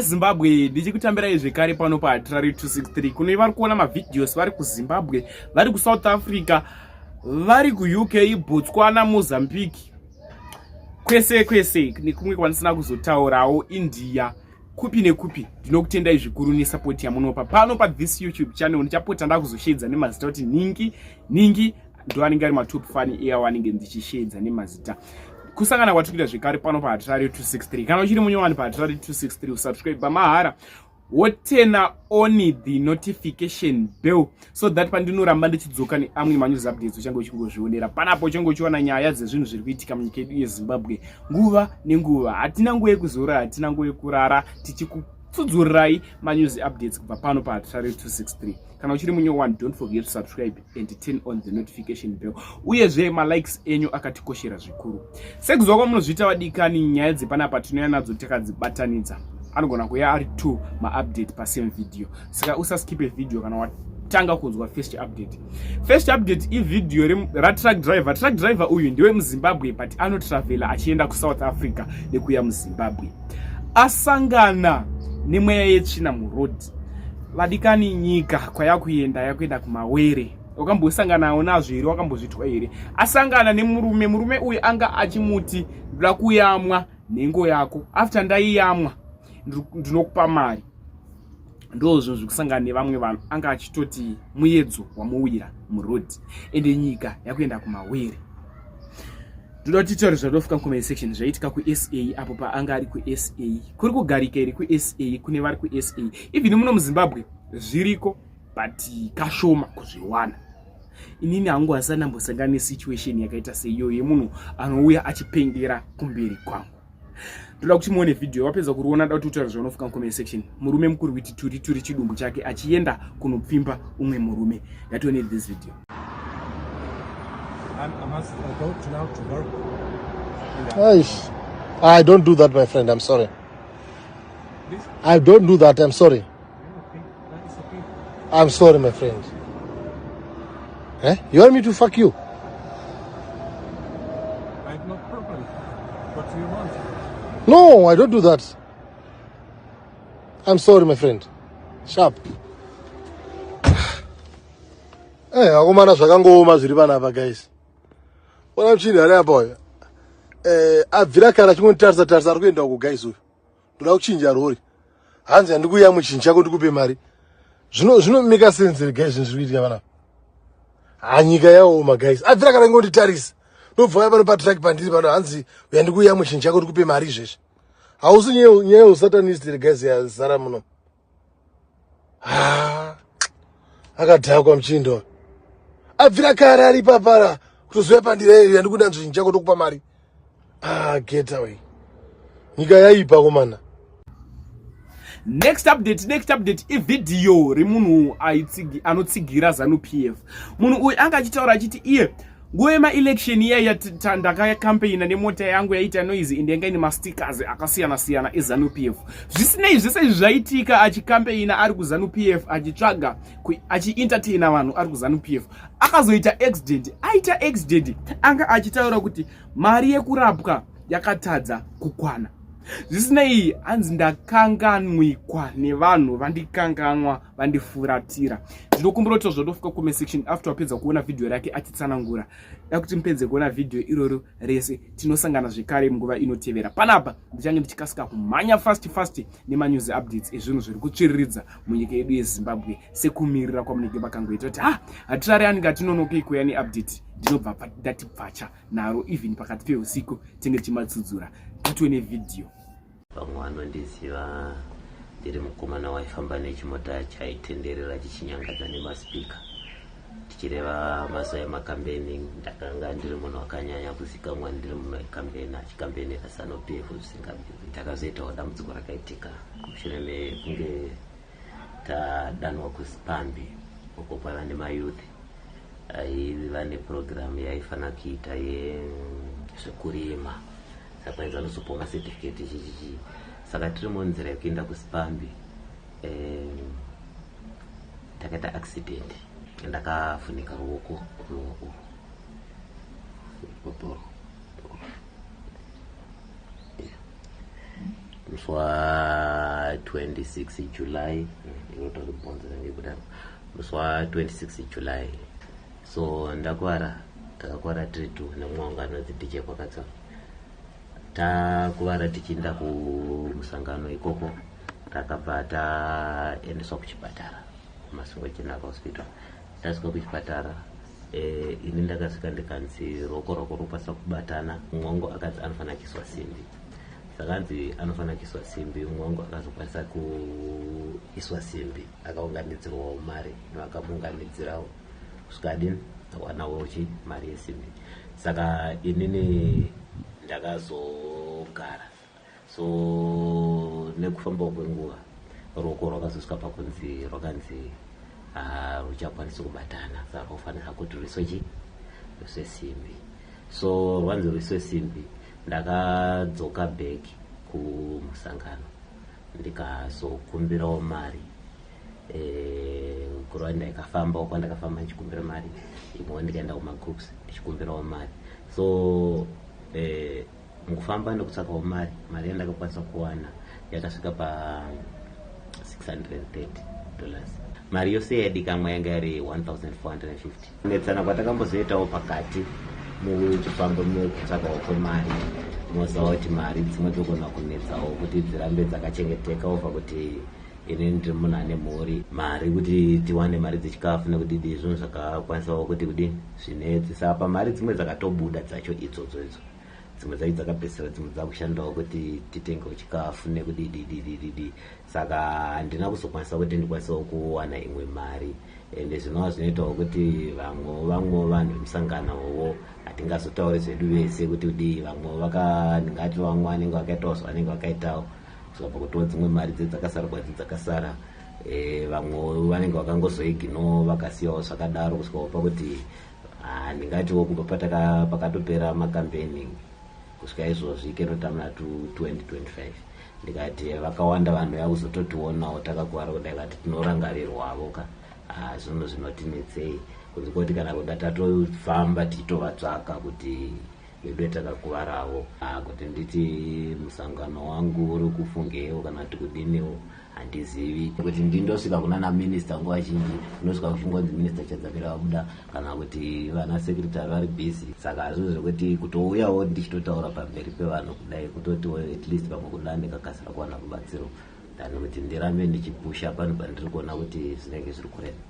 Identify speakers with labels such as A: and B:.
A: Zimbabwe ndichikutambirai zvekare pano paHatirari 263 kuno vari kuona mavideos vari kuZimbabwe vari kuSouth Africa vari kuUK Botswana Mozambique kwese kwese nekumwe kwanisina kuzotaurawo India kupi nekupi ndinokutendai zvikuru nesapoti yamunopa pano pathis youtube channel ndichapota ndakuzosheedza nemazita kuti ningi ningi ndo anenge ari matop fani iyawo anenge ndichisheedza nemazita kusangana kwatikuita zvekare pano pahatirari 263 kana uchiri munyowani pahatirari 263 usubscribe pamahara wotena only the notification bell so that pandinoramba ndichidzoka neamwe manews updates uchange uchingozvionera panapo uchange uchiona nyaya dzezvinhu zviri kuitika munyika yedu yezimbabwe nguva nenguva hatina nguva yekuzora hatina nguva yekurara tichikutsudzurirai manews updates kubva pano pahatirari 263 kana uchiri munye one don't forget to subscribe and turn on the notification bell uyezve malikes enyu akatikoshera zvikuru sekuziva kwamunozviita vadikani nyaya dzepanapa tinouya nadzo takadzibatanidza anogona kuya ari two maupdate pasame video saka usaskipe video kana wat tanga kunzwa first update first update ivideo ratruck driver truck driver uyu ndiwe muzimbabwe but anotravela achienda kusouth africa nekuya muzimbabwe asangana nemweya yetsvina muroad vadikani nyika kwayakuenda yakuenda kumawere wakambosanganawo nazvo here wakambozvitwa here asangana nemurume murume uyu anga achimuti ndoda kuyamwa nhengo yako after ndaiyamwa ndinokupa mari ndozvo zvekusangana nevamwe vanhu anga achitoti muyedzo wamuwira muroad ende nyika yakuenda kumawere Ndoda kuti titaure zvaDof Kankomeni section zvaiitika kuSA apo paanga ari kuSA. Kuri kugarika iri kuSA kune vari kuSA. Even muno muZimbabwe zviriko but kashoma kuzviwana. Inini hangu hasana mbosangana nesituation yakaita seiyo yemunhu anouya achipengera kumberi kwangu. ndoda kuti muone vhidhiyo wapedza kuriona da kuti utaura zvaunofika mucomment section murume mukuru witi turi turi chidumbu chake achienda kunopfimba umwe murume ngationei this video
B: Eish.
C: I don't do that, my friend. I'm sorry.
B: I don't do
C: that. I'm sorry.
B: I'm sorry, my
C: friend. Eh? You want me to fuck you? I
B: have no problem. What do you want? No, I
C: don't do that. I'm sorry, my friend. Sharp. Hey, eh, akomana zvakangooma zviri panapa guys. Ona mchini ari apa uyu. Eh, abvira kana chingonditarisa tarisa ari kuenda uko guys uyu. Ndoda kuchinja rori. Hanzi handikuya muchinji chako ndikupe mari. Zvino zvino mika sense guys zvinhu zviri kuitika vana. Ha nyika yaoma guys. Abvira kana ngoti tarisa. Ndobva pano pa track pandiri pano hanzi uyandikuya muchinji chako ndikupe mari izvezvi. Hausi nyeyo nyeyo satanist guys ya zara muno. haa akadhakwa muchindo abvira kare ari papara kutoziva pandireri yandikuda nzvinyi chako tokupa mari ah get away nyika yaipa komana next
A: update next update ivhidhiyo remunhu anotsigira zanu p f munhu uyu anga achitaura achiti iye Nguva yemaelection iya yatita ndakakampeina nemota yangu yaita noise ende yanga ine mastickers akasiyana siyana ezanu p f zvisinei zvese izvi zvaitika achikampeina ari kuzanu p f achitsvaga achientertaina vanhu ari kuzanu p f akazoita accident aita accident anga achitaura kuti mari yekurapwa yakatadza kukwana zvisinei hanzi ndakanganwikwa nevanhu vandikanganwa vandifuratira ndinokumbira kuti zvotofika comment section after wapedza kuona vhidhiyo rake achitsanangura da kuti mupedze kuona vhidhiyo iroro rese tinosangana zvekare munguva inotevera panapa ndichange ndichikasika kumhanya fast fast nemanews updates ezvinhu zviri kutsviriridza munyika yedu yezimbabwe sekumirira kwamunenge makangoita kuti ha hatirare anenge atinonokei kuya neupdate ndinobva ndatibvacha naro even pakati peusiku tinge tichimatsudzura titwe nevhidhiyo Vamwe
D: vanondiziva ndiri mukomana waifamba nechimota chaitenderera chichinyangadza nemaspika tichireva mazuva emakambeni ndakanga ndiri munhu wakanyanya kuzikamwa ndiri munhu wekambeni achikambenera sano p f zvisingabviri takazoitawo dambudziko rakaitika mushure mekunge tadanwa kuspambi uko kwaiva nemayouth aiva nepurogiramu yaifanira kuita yezvekurima surprise vanozopiwa macertificate chichichii saka tiri munzira yekuenda kusipambi um, takaita accident ndakafunika ruoko ruoko rweporo musi wa 26 july irotori bonzo range kudaro musi wa 26 july So ndakwara takakwara tiri two nemumwe wangu anonzi DJ Kwakatsa. Takwara tichiinda kumusangano ikoko takabva taendeswa kuchipatara kuMasvingo General Hospital. Tasvika kuchipatara eh, ini ndakasvika ndikanzi ruoko rwako rwokwanisa kubatana mumwe wangu akanzi anofanira kuiswa simbi sakanzi anofanira kuiswa simbi mumwe wangu akazokwanisa kuiswa simbi akaunganidzirwawo mari vakamuunganidzirawo zvikadini wanawo chi mari yesimbi saka inini ndakazogara so nekufambawo kwenguva ruoko rwakazosvika pakunzi rwakanzi ah, ruchakwanisi kubatana saka rwofanira kuti rwiswe chi rwiswe simbi so rwanzi rwiswe simbi ndakadzoka back kumusangano ndikazokumbirawo mari eh, guruva ndaikafamba uko ndakafamba ndichikumbira mari imwe ndikaenda kumagroups ndichikumbirawo mari so eh, mukufamba nekutsvakawo mari mari yandakakwanisa kuwana yakasvika pa 630 dollars mari yose yadikamwa yanga yari 1450 netsana kwatakambozoitawo pakati muchifambo mekutsvakawo kwemari moziva kuti mari dzimwe dzogona kunetsawo kuti dzirambe dzakachengeteka ova kuti ini ndiri munhu ane mhuri mari kuti tiwane mari dzechikafu nekudidi izvino zvakakwanisawo kuti kudini zvinetsi sapa mari dzimwe dzakatobuda dzacho idzodzo idzo dzimwe dzacho dzakapedzisira dzimwe dzakushandawo kuti titengewo chikafu nekudidididididi saka handina kuzokwanisa kuti ndikwanisewo kuwana imwe mari ende zvinova zvinoitawo kuti vamwe vamwe vanhu vemusangano wowo hatingazotauri zvedu vese kuti kudii vamwe vakandingati vamwe vanenge vakaitawo zvavanenge vakaitawo tikabva kutora dzimwe mari dze dzakasara kwadzi dzakasara eh, vamwe vanenge vakangozoignore vakasiyawo zvakadaro kusvikawo pakuti ah, ndingatiwo kubva pataka pakatopera makambeni kusvika izvozvi kenotamna to 2025 ndikati vakawanda vanhu yakuzototionawo takakuvara kudai vati tinorangarirwavo ka ah, zvinhu zvinotinetsei kunzi koti kana kuda tatofamba tichitovatsvaka kuti Veduwe takakuvarawo ah, kuti nditi musangano wangu uri kufungeiwo kana kuti kudiniwo handizivi kuti ndindosvika kuna na minister nguva zhinji ndosvika kuchingonzi minister chadzamira vabuda kana kuti vana secretary vari busy saka hazvo zvekuti kutouyawo ndichitotaura pamberi pevanhu kudai kutotiwo at least pamwe kuda ndikakasira kuwana rubatsiro than kuti ndirambe ndichipusha pano pandiri kuona kuti zvinenge zviri kurema